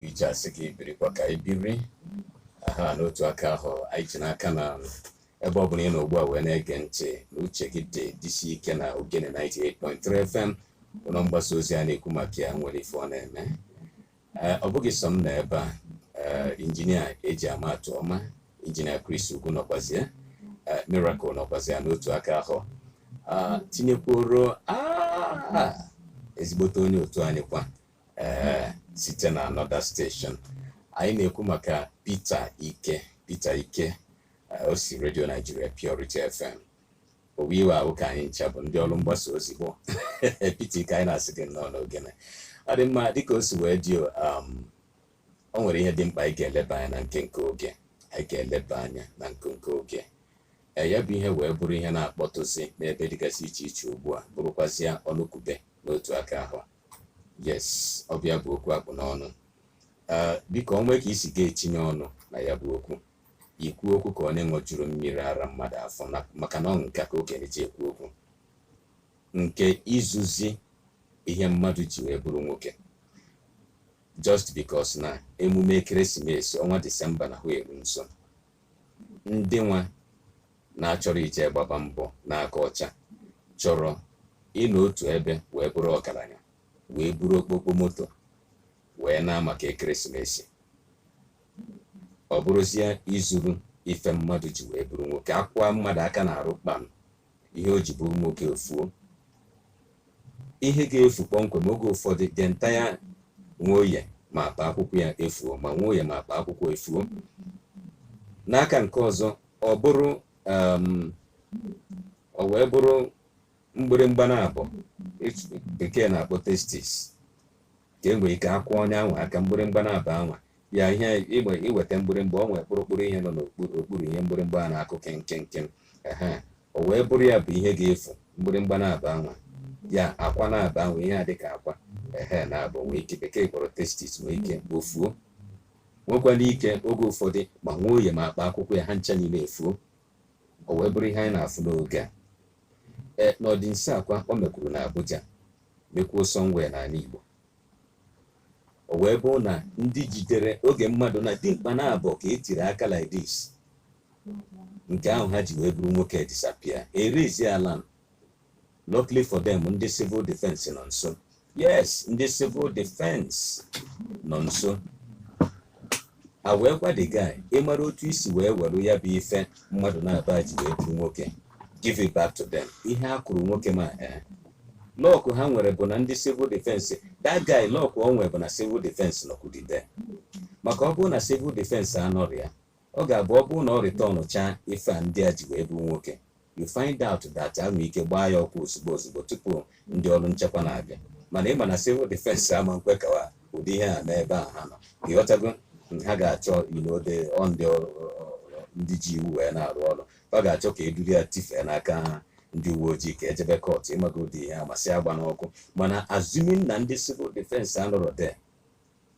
iji asị gị birikwa ka anyị biri aha n'otu aka ahụ anyị ji n'aka na ebe ọ bụla ị nọ ugbu a wee na-ege ntị na uche gị dị dịsi ike na Ogene 98.3 FM ụlọ mgbasa ozi a na-ekwu maka ya nwere ife ọ na-eme Ee, ọ bụghị sọ m na ebe a ee, injinia eji ama atụ ọma injinia Chris Ugwu nọkwazie ee, Miracle nọkwazie n'otu aka ahụ Ah, tinyekwuoro ah, ezigbote onye otu anyị kwa ee site na another station anyị na-ekwu maka Peter Ike Peter Ike o si Radio Nigeria Purity FM owe iwe ahụ ka anyị ncha bụ ndị ọrụ mgbasa ozi bụ Peter Ike anyị na-asị gị nnọọ n'Ogene ọ dị mma dịka o si wee dị um, o nwere ihe dị mkpa anyị ga-eleba anya na nke nke oge anyị ga-eleba anya na nke nke oge e, ya bụ ihe wee bụrụ ihe na-akpọtụzi n'ebe dịgasị iche iche ugbu a bụrụkwazịa ọnụkwube n'otu aka ahụ yes ọ bụ ya bụ okwu a kpụ n'ọnụ eh, biko o nwee ka i si ga-etinye ọnụ na ya bụ okwu i kwuo okwu ka onye ṅụjuru mmiri ara mmadụ afọ maka na ọ nka ka okenye ji ekwu okwu nke izuzi ihe mmadụ ji wee bụrụ nwoke just because na emume ekeresimesi ọnwa disemba na hụ eru nso ndị nwa na-achọrọ ije gbaba mbọ n'aka ọcha chọrọ ịnọ otu ebe wee bụrụ ọgaranya wee buru okpokpo moto wee naa maka ekeresimesi ọ bụrụzie izuru ife mmadụ ji wee bụrụ nwoke a kwaa mmadụ aka n'arụ kpam ihe o ji bụrụ nwoke efuo ihe ga-efu kpọmkwem oge ụfọdụ the entire Nwoye ma akpa akwụkwọ ya efuo ma Nwoye ma akpa akwụkwọ efuo n'aka nke ọzọ ọ bụrụ um, o wee bụrụ mgbịrịmgba naabọ bekee na-akpọ testis ka e nwere ike a kwaa onye anwa aka mgbịrịmgba naabọ anwa ya ihe i weta mgbịrịmgba o nwere kpụrụkpụrụ ihe nọ n'okpuru ihe mgbịrịmgba a na-akụ kenkenken ehe o wee bụrụ ya bụ ihe ga-efu mgbịrịmgba naabọ anwa ya akwa naabọ anwa ihe a dịka akwa ehe naabọ nwee ike bekee kpọrọ testis nwee ike o fuo nwekwara ike oge ụfọdụ ma Nwoye ma akpa akwụkwọ ya ha ncha niile efuo o wee bụrụ ihe anyị na-afụ n'oge a ee n'ọdịnso a kwa o mekwuru na Abuja mekwuo somewhere n'anị Igbo o wee bụrụ na ndị jidere oge mmadụ na dimkpa naabọ ka e tiri aka like this nke ahụ ha ji wee bụrụ nwoke disappear erezi ala luckily for them ndị civil defense nọ nso yes ndị civil defense nọ nso a wee gwa the guy ị mara otu i si wee were ya bụ ife mmadụ naabọ ji wee bụrụ nwoke give it back to them ihe a kụrụ nwoke ma ee eh. luck ha nwere bụ na ndị civil defense that guy luck o nwere bụ na civil defense nọkwudide maka ọ bụrụ na civil defense anọrọ ya ọ ga-abụ ọ bụrụ na ọ returnchaa ife a ndị a ji wee bụrụ nwoke you find out that e nwere ike gbaa ya ọkụ ozugbo ozugbo tupu ndị ọrụ nchekwa na-abịa mana ị ma na civil defense ama nkwe ka ụdị ihe a n'ebe a ha nọ ịghọtago ha ga-achọ you know ọ ndị ọrụ ndị ji iwu wee na-arụ ọrụ ọ ga-achọ ka eduru ya tifee n'aka ha ndị uwe ojii ka e jebe court ịmago ụdị ihe a masị agba n'ọkụ mana assuming na ndị civil defense anọrọ there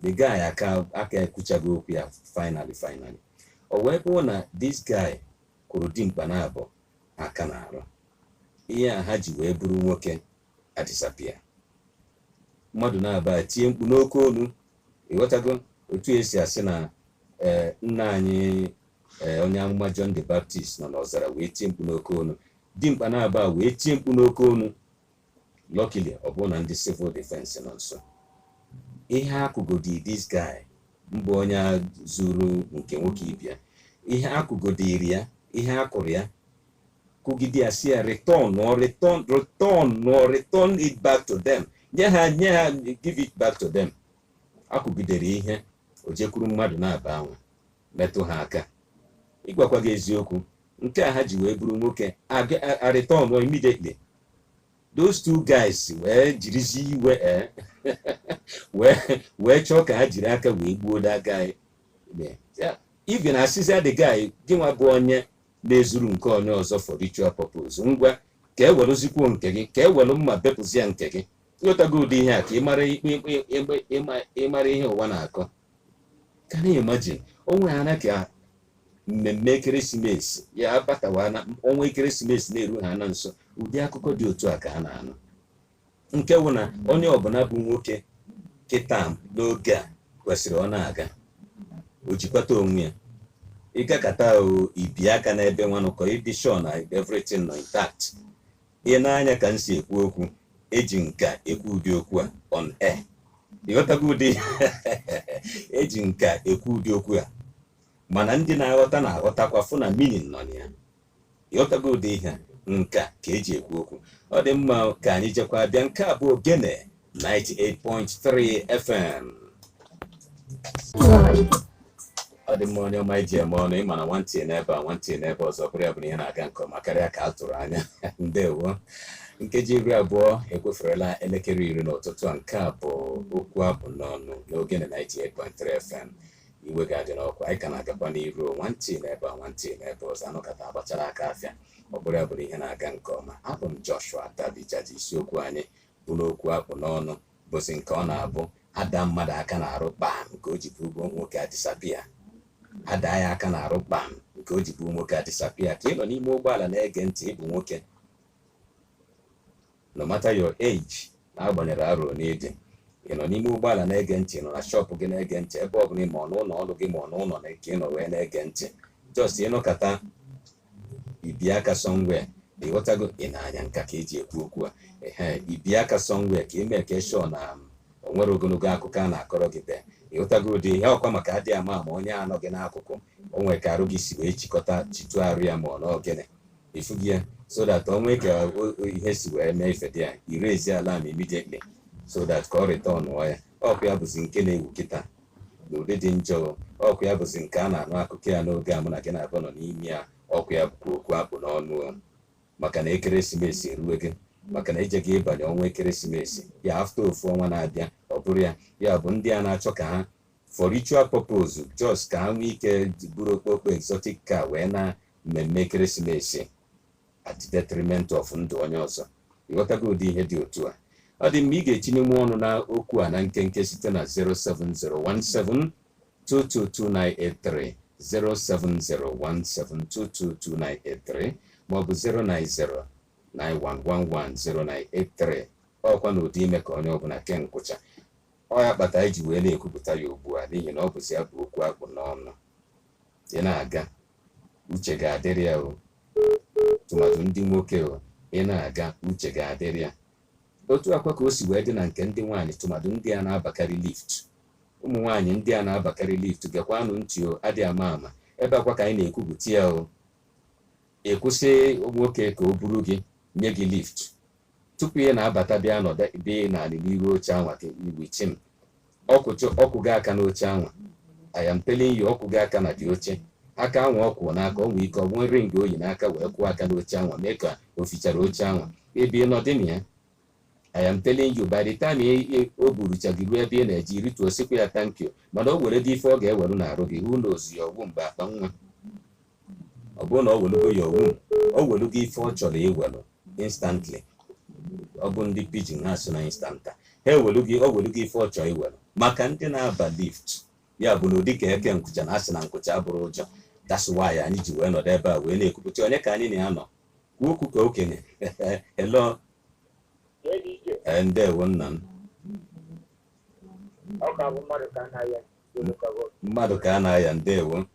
the guy aka aka ekwuchago okwu ya finally finally o wee kwuo na this guy kụrụ dimkpa naabọ aka n'arụ ihe a ha ji wee bụrụ nwoke adisappear mmadụ naabọ etie mkpu n'oke olu ịghọtago otu esi asị na ee nna anyị ee onye amụma John the Baptist nọ n'ọzara wee tie mkpu n'oke olu dimkpa naabọ wee tie mkpu n'oke olu Luckily, ọ bụrụ na ndị civil defense nọ nso ihe akụgodi this guy mbụ onye a zuru nke nwoke ibe ya ihe akụgodiri ya ihe akụrụ ya kụgide ya sị ya return or return return or return it back to them nye ha nye ha give it back to them akụgidere ihe o jekwuru mmadụ naabọ anwa metụ ha aka ịgwakwa gị eziokwu nke a ha ji wee bụrụ nwoke a return immediately those two guys wee jirizi iwe eh, wee chọọ ka ha jiri aka wee gbuo that guy even asịzia the guy gị nwa bụ onye na-ezuru nke onye ọzọ for ritual purpose ngwa ka e welụzikwuo nke gị ka e welụ mma bepụzie nke gị ịghọtago ụdị ihe a ka ịmara ikpe ịmara ihe ụwa na-akọ can you imagine onwe ha na ka mmemme ekeresimesi ya abatawa na ọnwa ekeresimesi na-eru ha na nso ụdị akụkọ dị otu a ka a na-anụ nke wụ na onye ọbụla bụ nwoke kịta n'oge a kwesịrị ọ na-aga o jikwata onwe ya ị gakata o i bie aka n'ebe nwanụ ka ị dị sure na everything nọ intact ị nee anya ka m si ekwu okwu eji nka ekwu ụdị okwu a on air ịghọtago ụdị ihe eji nka ekwu ụdị okwu a mana ndị na-aghọta na-aghọtakwa fụ na meaning nọ na ya ịghọtago ụdị ihe a nka ka eji ekwu okwu ọ dị mma ka anyị jekwa bịa nke a bụ ogene 98.3 FM ọ dị mma onye ọma e ji eme ọnụ ịma na nwantị n'ebe a nwantị n'ebe ọzọ ọ bụrụ ya bụ na ihe na-aga nke ọma karịa ka a tụrụ anya ndewo nkeji iri abụọ ekweferela elekere iri n'ụtụtụ a nke a bụ okwu akpụ n'ọnụ n'Ogene 98.3 FM iwe ga-adị n'ọkwa anyị ka na-agakwa n'iru nwantị n'ebe a nwantị n'ebe ọzọ anụkata agbachara aka afịa ọ bụrụ ya bụ na ihe na-aga nke ọma abụ m Joshua Tabija ji isiokwu anyị bụ na okwu akpụ n'ọnụ bụzi nke ọ na-abụ ada mmadụ aka n'arụ kpam nke o ji bụ nwoke adisappear ada ya aka n'arụ kpam nke o ji bụ nwoke adisappear ka ị nọ n'ime ụgbọala na-ege ntị ị bụ nwoke no matter your age n'agbanyerọ arọ one ị dị ị nọ n'ime ụgbọala na-ege ntị nọ na shọpụ gị na-ege ntị ebe ọ bụla ma ọ n'ụlọ ọrụ gị ma ọ n'ụlọ na nke ị nọ wee na-ege ntị just ị nọkata i bie aka somewhere ị ghọtago ị na-anya nka ka e ji ekwu okwu a ehe i bie aka somewhere ka ị make sure na um, o nwerọ ogologo akụkọ a na-akọrọ gị ebe a ị ghọtago ụdị ihe ọkwa maka adị ama ama onye a nọ gị n'akụkụ o nwere ka arụ gị si wee chịkọta chịtụ arụ ya ma ọ na ọ gịnị ị fụgo ya so that o nwee ka o- o- ihe si wee mee ife dị ya ị raise alarm immediately so that ka ọ returnụọ ya ọkwa ya bụzi nke na-ewu kịta n'ụdị dị njọ ọkwa ya bụzi nke a na-anụ akụkọ ya n'oge a mụ na gị naabọ nọ n'ime ya ọkwa ya bụkwa okwu akpụ n'ọnụ maka na ekeresimesi eruwego maka na e jego ịbanye ọnwa ekeresimesi ya after ofu ọnwa na-abịa ọ bụrụ ya ya bụ ndị a na-achọ ka ha for ritual purpose just ka ha nwee ike buru okpokpo exotic car wee na mmemme ekeresimesi at the detriment of ndụ onye ọzọ ị ghọtago ụdị ihe dị otu a ọ dị mma ị ga-etinyenwu ọnụ na okwu a na nkenke site na 07017222983 07017222983 maọbụ 09091110983 ọkwa na ụdị ime ka onye ọbụla kee nkwụcha ọ ya kpata e ji wee na-ekwupụta ya ugbu a n'ihi na ọ bụzi ya bụ okwu akpụ n'ọnụ ị na-aga uche gị adịrị ya o tụmadụ ndị nwoke o ị na-aga uche gị adịrị ya otu a kwa ka o si wee dị na nke ndị nwaanyị tụmadụ ndị a na-abakarị lift ụmụ nwaanyị ndị a na-abakarị lift gekwanụ ntị o adị ama ama ebe a kwa ka anyị na-ekwupụta ya o ị kwụsị nwoke ka o buru gị nye gị lift tupu ị na-abata bịa nọdụ ebe a n'anị n'iru oche anwa with him ọ kụchụ ọ kụgo aka n'oche anwa I am telling you ọ kụgo aka na the oche aka anwa ọ kụ n'aka ọ nwee ike ọ nwee ring o yi n'aka wee kụọ aka n'oche anwa mee ka o fichara oche anwa ebe ị nọdị na ya I am telling you by the time ị- ị- o burucha gị ruo ebe ị na-eje i rituo sịkwa ya thank you mana o were the ife ọ ga-eweru n'arụ gị who knows ya ọ bụ maybe akpa nwa ọ bụrụ na o welugo ya owu o welugo ife ọ chọrọ iwelu instantly ọ bụ ndị pidgin ha sụ na instanta ha ewelugo o welugo ife ọ chọrọ iwelu maka ndị na-aba lift ya bụ na ọ dị ka e kee nkwụcha na a sị na nkwụcha abụrọ ụjọ that's why anyị ji wee nọdụ ebe a wee na-ekwupụta onye ka anyị na ya nọ kwuo okwu ka okenye hello ee ndewo nna m mmadụ ka a na-aya ndewo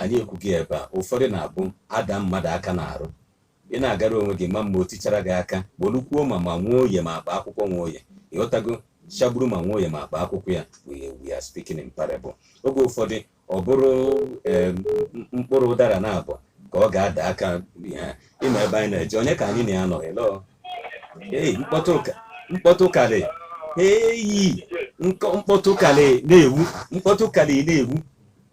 anyị ekwugo ebe a ụfọdụ na-abụ a da mmadụ aka n'arụ ị na-agara onwe gị ma mma o tichara gị aka bulukwuo ma ma Nwoye ma akpa akwụkwọ Nwoye ị ghọtago chagburu ma Nwoye ma akpa akwụkwọ ya we are speaking in parable oge ụfọdụ ọ bụrụ mkpụrụ ụdara naabọ ka ọ ga-ada aka ya ị ma ebe anyị na-eje onye ka anyị na ya nọ hello ee mkpọtụ karị eyi mkpọtụ karị na-ewu mkpọtụ karị na-ewu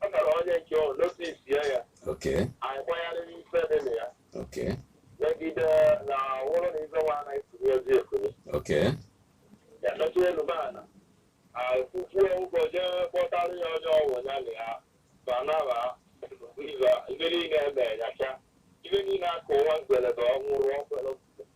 ọ tara onye nke ọ notis ya ya Okay. anyị gbanyarịrị ife dị na ya Okay. megide na wụrụ na ife nwa anaghị tụrụ ezi ekuru Okay. ya nọchi elu be ana akwụkwọ ụgwọ jee kpọtara ya onye ọgwụ ya na ya banaba ibe niile eme ya cha ibe niile akụ nwa mgbelebe ọnwụrụ ọkpere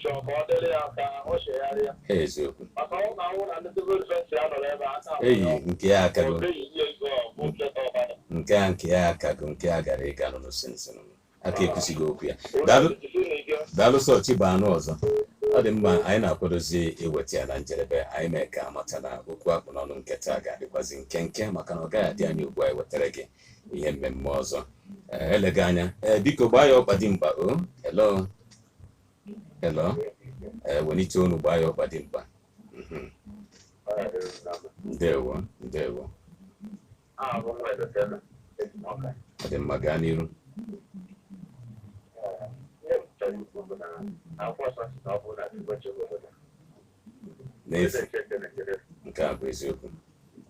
chọrọ ka ọ dịrị ya ka ọ chegharịa eziokwu maka ọ na anwụ na ndị civil defense ya nọrọ ebe a na-ahụ eyi ya. nke ya akago Ọ dịghị ihe ego ọ bụ ncheta ọbara. nke a nke ya akago nke a gara ịga nụrụ sinsin aka ekwusighị okwu ya daalụ Onye jisi n'ike. daalụ sọ chi bọọ a nụ ọzọ ọ dị mma anyị na-akwadozi iweta ya na njedebe anyị mee ka a mata na okwu a kpụ n'ọnụ nke taa ga-adịkwazi nkenke maka na ọ gaghị adị anya ugbu a ewetara gị ihe mmemme ọzọ Ee, eleghị anya ee biko gbaa ya ọkpa dimkpa o hello Hello. Eh, welite olu gbaa ya ọkpa dimkpa. Mhm. Ndewo, ndewo. Ọ dị mma gaa n'iru. N'efu, nke a bụ eziokwu.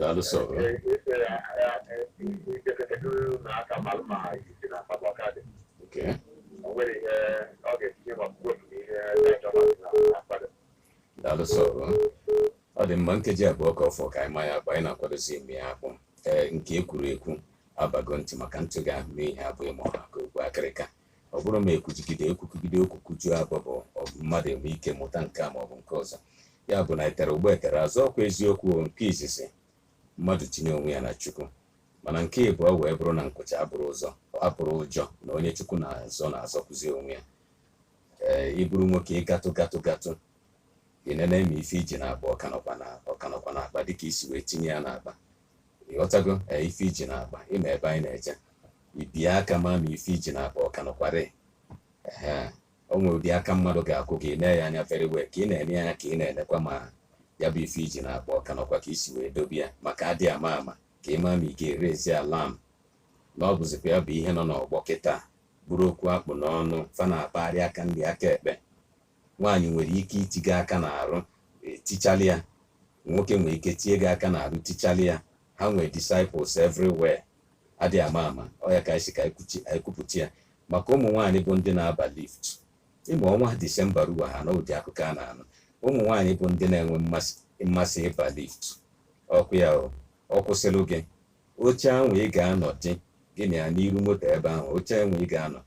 daalụ sọ Okay. daalụ sọ ọ dị mma nkeji abụọ ka ọ fọ ka anyị maa ya akpụ anyị na-akwadozi ịma ya akpụ ee nke e kwuru ekwu abago ntị maka ntị ga-anụ ihe abụghị ma ọ ha ka okpu akịrịka ọ bụrụ ma ekwujigide ekwukigide okwu kwujuo abọ ọ bụ mmadụ enwe ike mụta nke a maọbụ nke ọzọ ya bụ na etere ụgbọ etere azụ ọkwa eziokwu nke izizi mmadụ tinye onwe ya na chukwu mana nke ịbụọ wee bụrụ na nkụcha abụrọ ụjọ na onye chukwu na-azọ na-azọkwuzi onwe ya ee ịbụrụ nwoke ịgatụ gatụ gatụ inene ma ife iji na-akpa ọka nọkwa na akpa dịka isi wee tinye ya n'akpa ịghọtago ee ife iji na-akpa ịma ebe anyị na-eje ibie aka ma ma ife iji na-akpa ọka nọkwarị ee o nwere ụdị aka mmadụ ga-akụ gị i nee ya anya very well ka ị na-ene ya anya ka ị na-enekwa ma ya bụ ife iji na-akpa ọka nọkwa ka isi wee dobe ya maka adị ama ama ka ị ma ma ị ga-eraise alarm na ọ bụzikwa ya bụ ihe nọ n'ọgbọ kịta bụrụ okwu akpụ n'ọnụ fa na-akpagharị aka nri aka ekpe Nwaanyị nwere ike iti gị aka n'arụ, e, tichalị ya. Nwoke nwere ike tie gị aka n'arụ, tichalị ya. Ha nwere disciples everywhere. Adị ama ama. Ọ ya ka anyị si ka anyị kwuchi- anyị kwupụta ya. Maka ụmụ nwaanyị bụ ndị na-aba lift. Ịma ọnwa Disemba ruo ha na ụdị akụkọ a na-anụ. Ụmụ nwaanyị bụ ndị na-enwe mmasị ịba lift. Ọkụ ya o, ọ kwụsịlụ gị. Oche ahụ ị ga-anọdị gị na ya n'iru moto ebe ahụ. Oche ahụ ị ga-anọ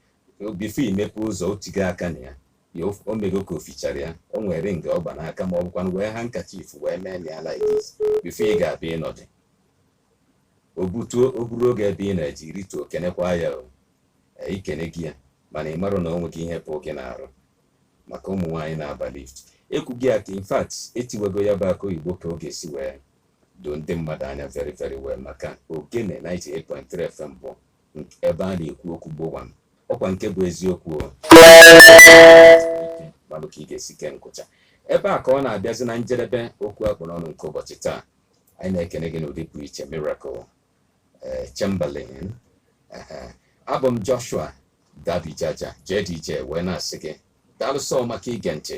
before imepe ụzọ otigo aka na ya ya o mego ka o fichara ya o nwere ring ọ gba n'aka ma ọ bụkwanụ wee handkerchief wee mee na ya like this before ị ga-abịa ịnọdụ o butuo o buruo gị ebe ị na-eje i rituo kenekwa ya o Ee, ikenego ya mana ị marọ na o nwego ihe pụọ gị n'arụ maka ụmụ nwaanyị na-aba lift ekwugo ya ka in fact etiwego ya bụ akụ oyibo ka ọ ga-esi wee doo ndị mmadụ anya very very well maka ogene 98.3 FM bụ ebe a na-ekwu okwu gbowam ọkwa nke bụ eziokwu malụ ka ị ga-esi kee nkụcha ebe a ka ọ na-abịazi na njedebe okwu akpụ n'ọnụ nke ụbọchị taa anyị na-ekene gị n'ụdị pụrụ iche miracle eh, Chamberlain abụ m Joshua Dabi Jaja JDJ wee na-asị gị daalụ sọ maka ige ntị